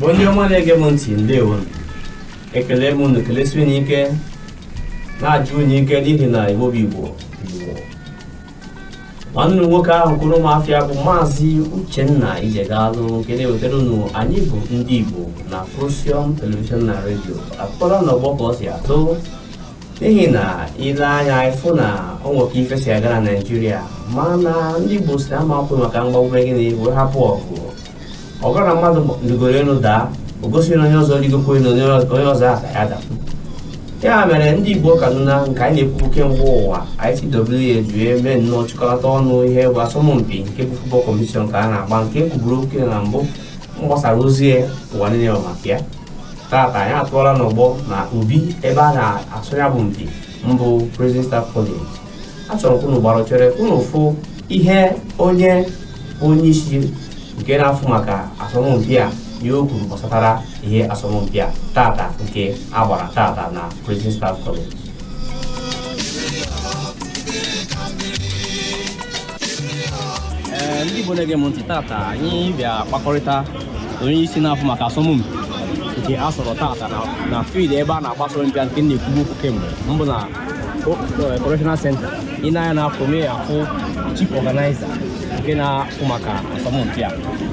bụ ndị ọma na-ege m ntị ndewo ekele m unu kelesi unu ike na-ajụ unu ike n'ihi na igbo bụ igbo igbo nwanne unu nwoke ahụ kwuru m afịa bụ maazị uchenna ijegalụ nke na-ewetara unu anyị bụ ndị igbo na procyon telivishọn na redio a kpọrọ n'ọgbọ ka ọ si atụ n'ihi na ile anya ịfụ na ọ nwekwa ife si aga na naijiria mana ndị igbo sị ama akwụ maka mgbagbu wee hapụ ọgụ ọ bụrụ na mmadụ rigoro elu daa o gosirọ na onye ọzọ rigokwa elu onye ọzọ ya daa ya mere ndị igbo kaduna nke anyị na-ekwu kemgbe ụwa ICWA ji eme nnọọ chịkọta ọnụ ihe bụ asọmpi nke bụ futbọl kọmpetishọn ka a na-agba nke e kwuburu okwu na mbụ mgbasara ozi ụwa niile maka ya tata anyị atụọla n'ọgbọ na obi ebe a na-asọ ya bụ mpi mbụ Prison Staff College achọrọ ka unu gbarụchere unu fụ ihe onye onye isi nke na-afụ maka asọmpi a ihe o kwuru gbasatara ihe asọmpi a tata nke a gbara tata na Prison Staff College ndị Igbo na-ege m ntị tata anyị bịa kpakọrịta onye isi na-afụ maka asọmpi nke a sọrọ tata na field ebe a na-agba asọmpi nke na-ekwubu okwu kemgbe mbụ na correctional center i nee anya na afọ mee afụ chief organizer nke na-afụ maka asọmpi a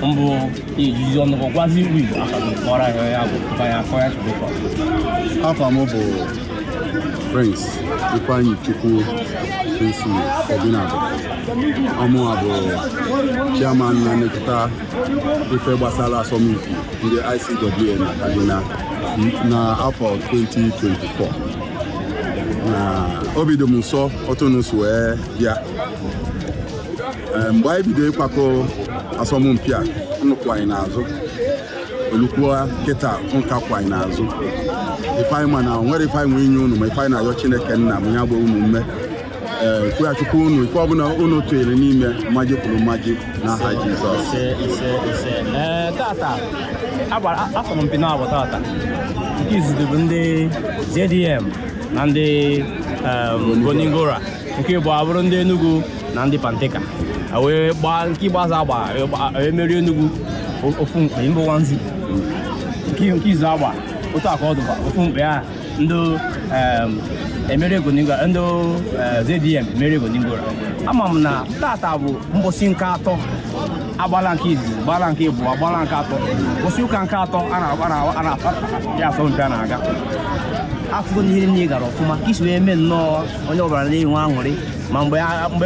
mbụ i jizi ọnụ gị gwazi ụmụ igbo akọrọ ahịa ya bụ ya akọ ya chụbụkọ afa m bụ prince ifeanyichukwu prince obinabo ọ mụwa bụ chairman na-elekọta ife gbasara asọmpi ndị ICWA na Kaduna n'afọ 2024 na obi dị m ụsọ otu unu si wee bịa eh, mgbe anyị bido ịkwakọ asọmpi a unu kwụ anyị n'azụ o lukwua kịta unu ka kwụ anyị n'azụ ife anyị ma na enwerọ ife anyị nwe inye unu ma ife anyị na-ayọ Chineke nna bụ ya gbaa unu ume ee kwụghachikwa unu ife ọbụla unu tụnyere n'ime mmaji kwuru mmaji n'aha jizọs ise ise ise ee tata a gbara asọmpi naabọ tata nke izizi bụ ndị zdm na ndị em, gonigora nke ịbụa bụrụ ndị enugu na ndị panteka A wee gbaa nke ikpeazụ agba wee gbaa- wee merie enugu o- ofu mkpe mbụ one zero nke nke izizi agba otu aka ọdụba ofu mkpe a ndị emerie Gonin Gora ndị ZDM emerie Gonin Gora ama m na tata bụ mbọsị nke atọ agbala nke izizi gbala nke ịbụa gbala nke atọ mbọsị ụka nke atọ a na-akpara asọmpi a na-aga afụgo na ihe niile gara ọfụma ka e si wee mee nnọọ onye ọbụla na-enwe aṅụrị ma mgbe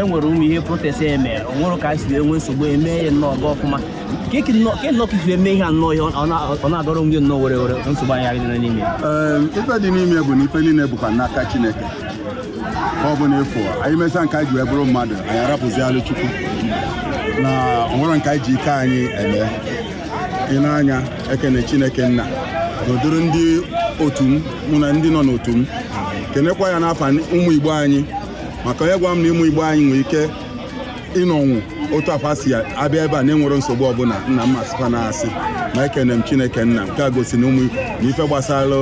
e nwere ụmụ ihe protest emere o nwerọ ka e si wee nwee nsogbu eme ya nnọọ ga ọfụma ka eke nnọọ ka nnọọ ka isi eme ihe a nnọọ ihe ọ na- ọ na-adọrọ onwe ya nnọọ were were nsogbu anyị anyị nọ n'ime ya Ee, ife dị n'ime bụ na ife niile bụkwa n'aka chineke ka ọ bụ na ife anyị mesaa nke anyị ji wee bụrụ mmadụ anyị arapụzialụ chukwu na o nwerọ nke anyị ji ike anyị eme ị na-anya ekene chineke nna na ụdịrị ndị otu m mụ na ndị nọ n'otu m kenekwa ya n'afa ụmụ igbo anyị maka onye gwa m na ụmụ igbo anyị nwere ike ịnọnwu otu a fa si abịa ebe a na-enwerọ nsogbu ọbụla nna m asị fa na asị ma ekene m chineke nna nke a gosi na ụmụ na ife gbasara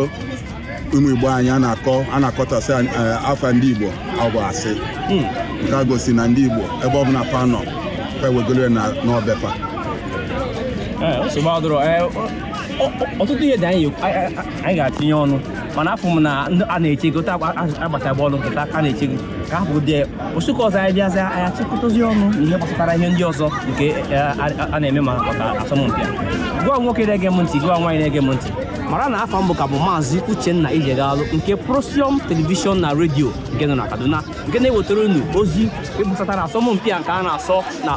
ụmụ igbo anyị a na-akọ a na-akọtọsị eh, afa ndị igbo a bụ asị hmm. nke a gosi na ndị igbo ebe ọbụla fa nọ fa ewegoro n'obi fa eh, ọtụtụ ihe dị anyị ga-atinye ọnụ mana afụ m na a na-echego taa agbata bọọlụ kịta a na-echego ka ha bụ dee ụbọsị ụka ọzọ anyị bịazi anyị achịkọtazi ọnụ na ihe gbasatara ihe ndị ọzọ nke eh, a a- a na-eme ma maka asọmpi a gụwa nwoke na-ege m ntị gụwa nwaanyị na-ege m ntị mara na afa m bụ ka bụ maazị uchenna ijegalụ nke procyon telivishọn na redio nke nọ na kaduna nke na-ewetara unu ozi gbasatara asọmpi a nke a na-asọ na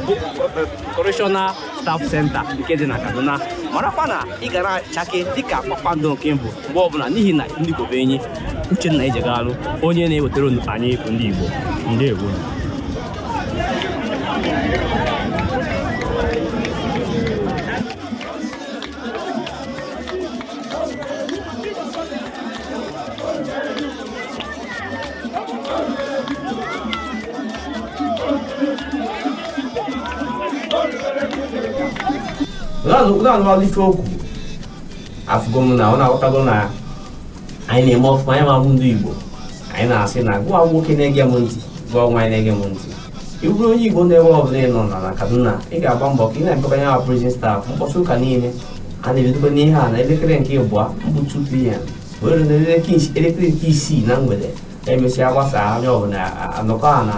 correctional Staff Center nke dị na Kaduna marakwa na ị ga na-achake dịka kpakpando nke mbụ mgbe ọbụla n'ihi na ndị Igbo bụ enyi Uchenna Ijegalụ onye na-ewetara unu anyị bụ ndị Igbo ndewo na-anụmalụ ife okwu afụgo m na ụnụ aghọtago na anyị na-eme ọfụma anyị nwa bụ ndị Igbo anyị na-asị na gụwa nwoke na-ege m ntị gụwa nwaanyị na-ege m ntị ị bụrụ onye Igbo n'ebe ọbụla ị nọ na Kaduna ị ga-agba mbọ ka ị na-emekọba ya prison staff mbọsị ụka niile a na-ebidobe n'ihe a na elekere nke ịbụa bụ 2 pm wee ruo n'elekere nke isii na mgbede emesịa gbasaa onye ọbụla anọkọọ na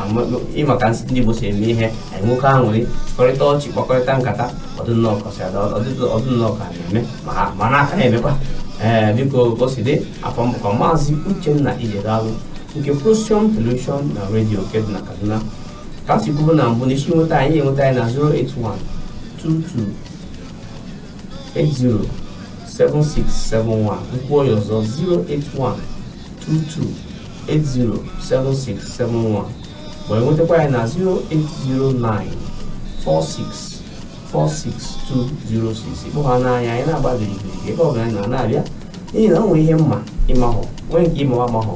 ị ma ka nsị ndị Igbo si eme ihe anyị nwekọọ aṅụrị chịkọrịta ọchị kpakọrịta nkata ọ dị nnọọ ka a na-eme mana a ka na-emekwa ee biko goside afa m bụkwa maazị Uchenna Ijegalụ nke Procyon Television na redio nke dị na Kaduna ka m si kwuru na mbụ n'isi nweta anyị enweta anyị na 081 22 807671 m kwuo ya ọzọ 08122807671 ma enwetakwa anyị na 08094646206 ị kpọhana anyị anyị na-agba gịrịgịrị ebe ọ bụla anyị na-abịa n'ihi na o nwere ihe m ma ị mahọ nwee nke ị ma m amahọ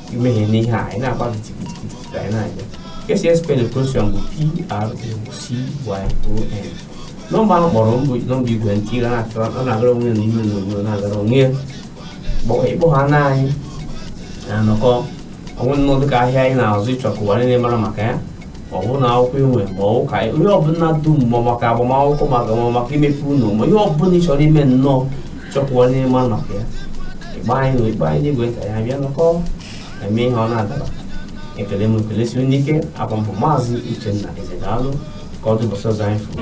imehie n'ihe anyị na-agba kitikitikitikiti anyị na-abịa ka esi espelụ Procyon bụ p-r-o-c-y-o-n nọmba ahụ kpọrọ mbụ nọmba igwe ntị na-agara onwe ya na ihe onyonyo na-agara onwe ya Kpọ- ị kpọhana anyị na-anọkọ o nwee nnọọ dịka ahịa ị na-azụ ị chọọ ka ụwa niile mara maka ya ọ bụ ụlọ akwụkwọ i nwe ma ọ ụka ihe ọbụla dum ma maka agbamakwụkwọ maka imepe ụlọ ma ihe ọbụla ị chọrọ ime nnọọ chọọ ka ụwa niile mara maka ya ịgba anyị na ịgba anyị n'igwe ntị anyị abịa nọkọ eme ihe ọ na-adaba ekele m ekelesie unu ike aha m bụ maazị Uchenna Eze daalụ ka ọ dị ụbọchị ọzọ anyị furu